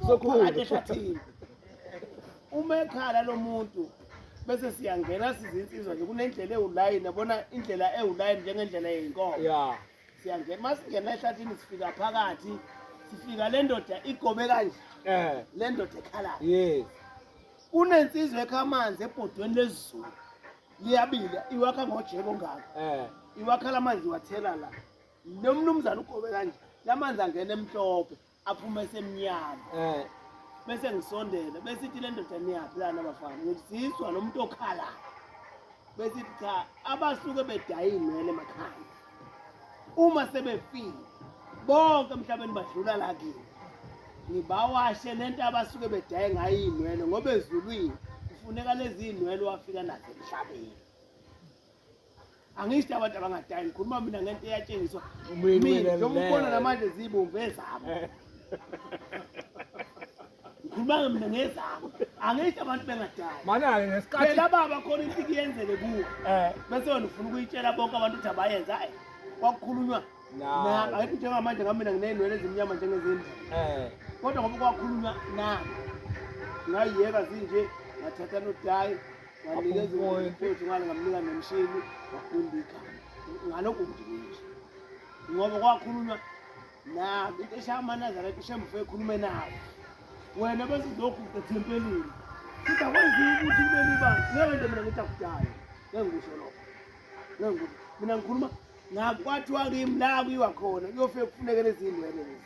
sokhulu uma ekhala lo muntu bese siyangena sizinsizwa nje kunendlela ewulayini yabona indlela ewulayini njengendlela yeyinkomo ya siyangena uma singena ehlathini sifika phakathi sifika le ndoda igobe kanje um le ndoda ekhalayo yes kunensizwa ekha amanzi ebhodweni lezulu liyabila iwakha ngojeko ngako um eh. iwakhala amanzi iwathela la nomnumzane ugobe kanje lamanzi angena emhlophe aphume esemnyama eh bese ngisondela bese ithi le ndoda niyaphi lana bafana ngizizwa lo muntu okhalayo bese ithi cha abasuke bedaye iy'nwele emakhanda uma sebefile bonke emhlabeni badlula la kimi ngibawashe le nto abasuke bedaye ngayo iy'nwele ngoba ezulwini kufuneka lezi iy'nwele wafika nazo emhlabeni angisho abantu abangadayi ngikhuluma mina ngento eyatshengiswa mina njengombona namanje zibomvu ezabo ngikhuluma mina ngezabo angisho abantu bengadayi manake ngesikhathi phela baba khona into kuyenzeke kuwe eh bese wena ufuna ukuyitshela bonke abantu ukuthi abayenza hayi kwakukhulunywa nabo ayikho njengamanje ngamina nginey'nwele ezimnyama njengezindlu eh kodwa ngoba kwakhulunywa nabo ngayiyeka zinje ngathatha nodayi Wanikeza umoya mfowethu ngale ngamnika nemshini wafunda igama. Ngalokho ngidinisa. Ngoba kwakhulunywa nabo into eshaya amanazarete ushembufe ekhulume nawo. Wena bese lokhu uthempelile. Futhi akwenziwa ukuthi kube libanga. Ngeke nje mina ngithi akudayo. Ngeke ngisho lokho. Ngeke ngisho. Mina ngikhuluma ngakwathiwa kimi la kuyiwa khona kuyofike kufuneke lezi ndwele lezi.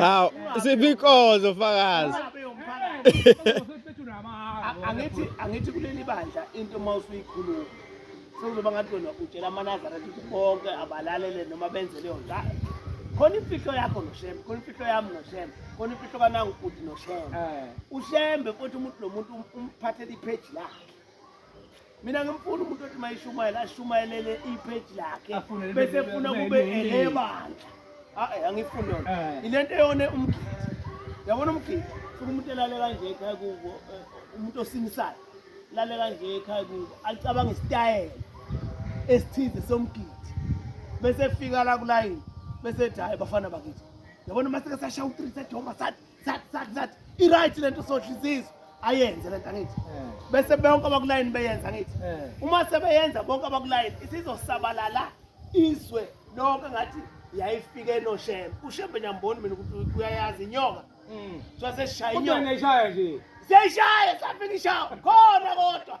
aw siphi inkonzo fakazi angithi angithi kuleli bandla into uma usuyikhuluma sekuzoba ngathi wena utshela amanazareth ukuthi bonke abalalele noma benze leyo nto khona imfihlo yakho noshem khona imfihlo yami noshem khona imfihlo kanangu uthi noshem eh. ushembe futhi umuntu nomuntu um-, umphathele ipheji lakhe mina ngimfuna umuntu othi mayishumayela ashumayelele ipage lakhe bese funa kube elebandla hayi ah, eh, angifuni yona eh. ilento eyone umgidi yabona umgidi funa umuntu elale kanje ekhaya kubo eh, umuntu osinisayo lale kanje ekhaya kubo alicabanga isitayela esithize somgidi bese fika la kulayini bese ethi hayi bafana bakithi yabona uma seke sashaya u-three sejomba sathi that that that i right lento sodlizizwe ayenze lento angithi eh. bese bonke abakulayini beyenza ngithi eh. uma sebeyenza bonke abakulayini isizosabalala izwe lonke ngathi yayifike noshembe ushembe nyamboni mina ukuthi uyayazi inyoka mm. so sesishaya inyoka seyishaya safika ishawa khona kodwa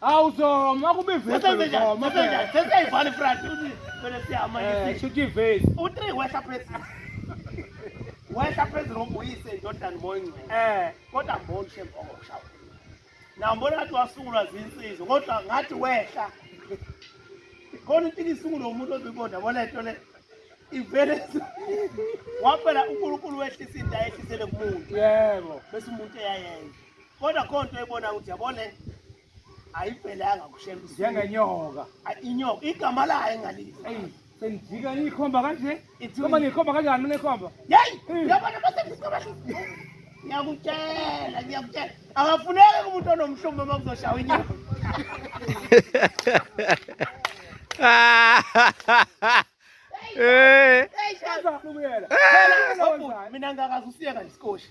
Hawu zoma kubivesi zoma. Seseyivana ifront uthi vele siyama Eh, yisi. shuthi ivesi. U3 wehla phezulu. Wehla phezulu ngoba uyise indodana moyingcwe. Eh, Kodwa mbona shem okushawa. Na mbona ngathi wasungulwa zinsizwa kodwa ngathi wehla. Khona into isungulwa umuntu obibona bona into le. Ivele waphela uNkulunkulu wehlisa into ayehlisele kumuntu. yebo. Bese umuntu eyayenza. kodwa khona into ebona ukuthi yabone ayiphelanga kushembe njengenyoka inyoka igama layo engalisa sengijika ikhomba kanje ikhomba ngikhomba kanjani mina ikhomba yeyi yabona basebenzisa ngiyakutshela ngiyakutshela akafuneki kumuntu onomhlumbi uma kuzoshawa inyama mina ngakaze usiyeka nesikoshi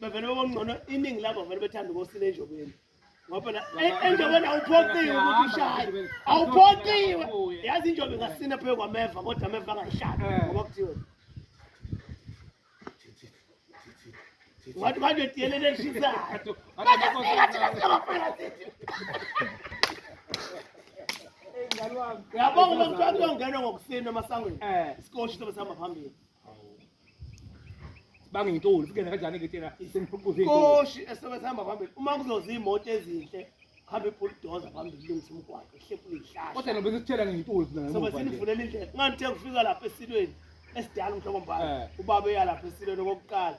bevele bebongcono iningi labo vele bethanda ukosina enjobeni ngoba eh, enjobeni awuphoqiwe ukuthi ushaye awuphoqiwe yazi injobe ingasina phezu kwameva kodwa ameva angayihlali eh. ngoba kuthiwe watu bado tielele shisa yabonga umntwana uyongena ngokusina emasangweni eh. sikoshi sobe sihamba phambili bangintuli kuyena kanjani ke tena sengiphuquza inkoshi esebenza hamba phambili uma kuzoza imoto ezinhle hambe bulldozer phambili lungisa umgwaqo ehlephu ihlahla kodwa nobe sithela ngintuli mina sobe sinivulela indlela ngani the kufika lapha esilweni esidala umhlobo mbala eh. ubaba eya lapha esilweni okokuqala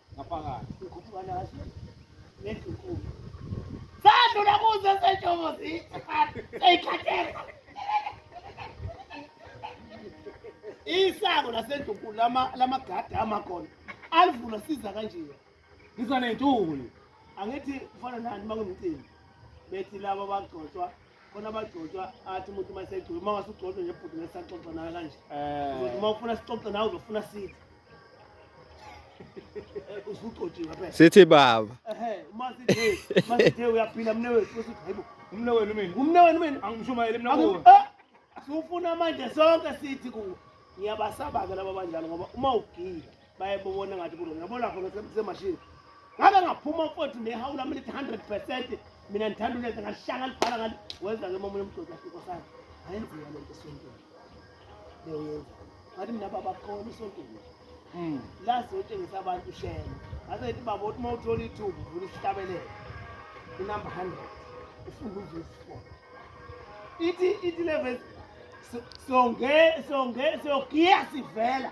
ngaphakathi ngikhuphuka naso nendlunkulu sadlula kuzo senjongo seyikhathela isango lasendlunkulu lamagadi amakhona alivula siza kanjena ngizwa nentuli angithi kufana nani uma ngimcimbi bethi laba bagcotshwa khona abagcotshwa athi umuntu uma esegcotshwa uma ngasugcotshwa nje bhuti ngesaxoxa nawe kanje eh. uzothi uma ufuna sixoxe nawe uzofuna sithi eh, usugcotshiwe phela sithi baba ehe uma sithe uma sithe uyaphila mne wethu usithi hayibo umne wenu mina umne wenu mina angishumayele mina kuwe eh, sufuna manje sonke sithi kuwe ngiyabasaba-ke laba banjalo ngoba uma ugile bayebona ngathi kulo ngiyabona khona kusemashini ngabe ngaphuma futhi nehawu lami lithi 100 percent mina ngithanda ulenza ngalishanga libhala ngani wenza ke momunye umgodi afiko sana ayenziwa le nto esontweni leyoyenza ngathi mina babakhona esontweni hmm. la siyotshengisa abantu ishema ngaze ngithi baba uthi uma uthola ithuba uvula isihlabelelo inumber 100 ufunda uvesi 4 ithi ithi le vesi songe songe sogiya sivela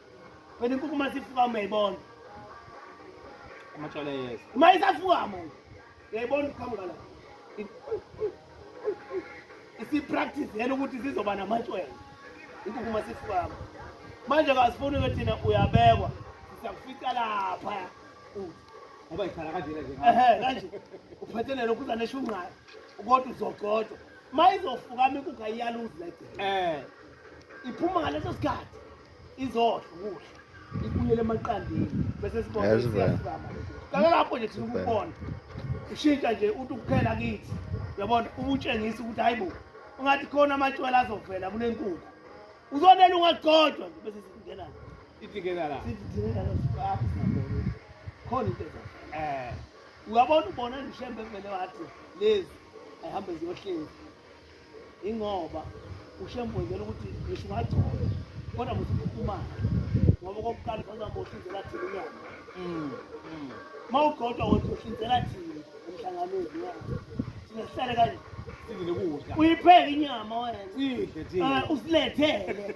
Wena inkukhu uma sifuka mayibona. Amatshala yeza. Uma isafuka manje. Uyayibona uqhamuka la. Isipractice yena ukuthi sizoba namatshwele. Inkukhu uma sifuka. Manje kasifuni ke thina uyabekwa. Siyakufica lapha. Ngoba ikhala kanje nje. Ehhe kanje. Uphathelele ukuza neshunqayo. Kodwa uzogcotshwa. Mayizofuka amikukha iyaluzi la. Eh. Iphuma ngaleso sikhathi. izohle ukudla ibuyele emaqandeni bese sibona ukuthi siyafukama kake lapho nje thina ukubona ushintsha nje uthi ukuphela kithi uyabona ubutshengisa ukuthi hayi bo ungathi khona amatshwela azovela kule nkukhu uzonela ungagcotshwa nje bese singena idingeka la sidingeka la sibaphi khona into eh uyabona ubona nje shembe vele wathi lezi ayihambe ziyohlezi ingoba ushembozela ukuthi ngisho ungagcoba kodwa musuphumana ngoba kokuqala uzoza ngohlinzela thina inyama mm, mm. ma ugodwa wothi uhlinzela thina emhlanganweni thina sihlale kanje uyipheke inyama wena usilethele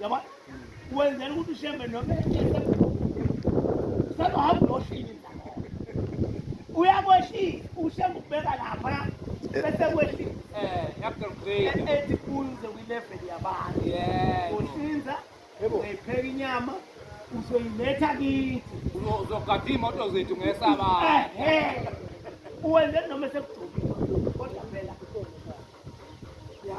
yabona wenzela ukuthi ushembe noma sekuhamba uyohlini uyakweshisa ushembe ukubeka lapha bese kwehlisa ethi kunze kwileveli yabantu uhlinza uyipheka inyama uzoyiletha kithi uzogada iy'moto zethu ngesabaa uwenzele noma sekugcobile kodwa phela ya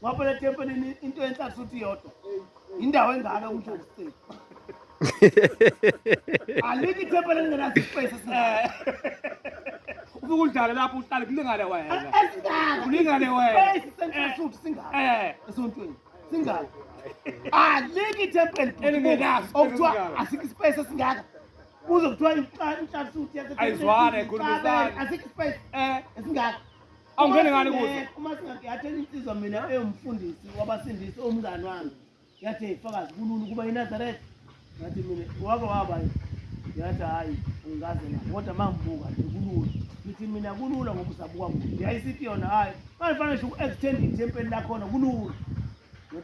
ngoba phela ethempelini into enhlala futhi iyodwa indawo engaka umdlalo state alikho ithempeli elingenasipesi ufike udlale lapho uhlale kulingane wena kulingane wena futhi singaka eh. esontweni singaka alikho ithempeli okuthiwa asikho isipesi esingaka kuze kuthiwa inhlala futhi ayizwane khulumisa asikho isipesi eh. esingaka Awungene ngani kuzo? Eh, uma singathi yathela insizwa mina eyomfundisi wabasindisi omngani wami. Yathi ifakazi kulula ukuba iNazareth. Ngathi mina wake waba yathi hayi ngikaze na kodwa mangibuka nje kulula. Ngithi mina kulula ngoba usabuka kude. Yayisithi yona hayi. Manje fanele ngisho uku-extend ithempeli lakhona kulula.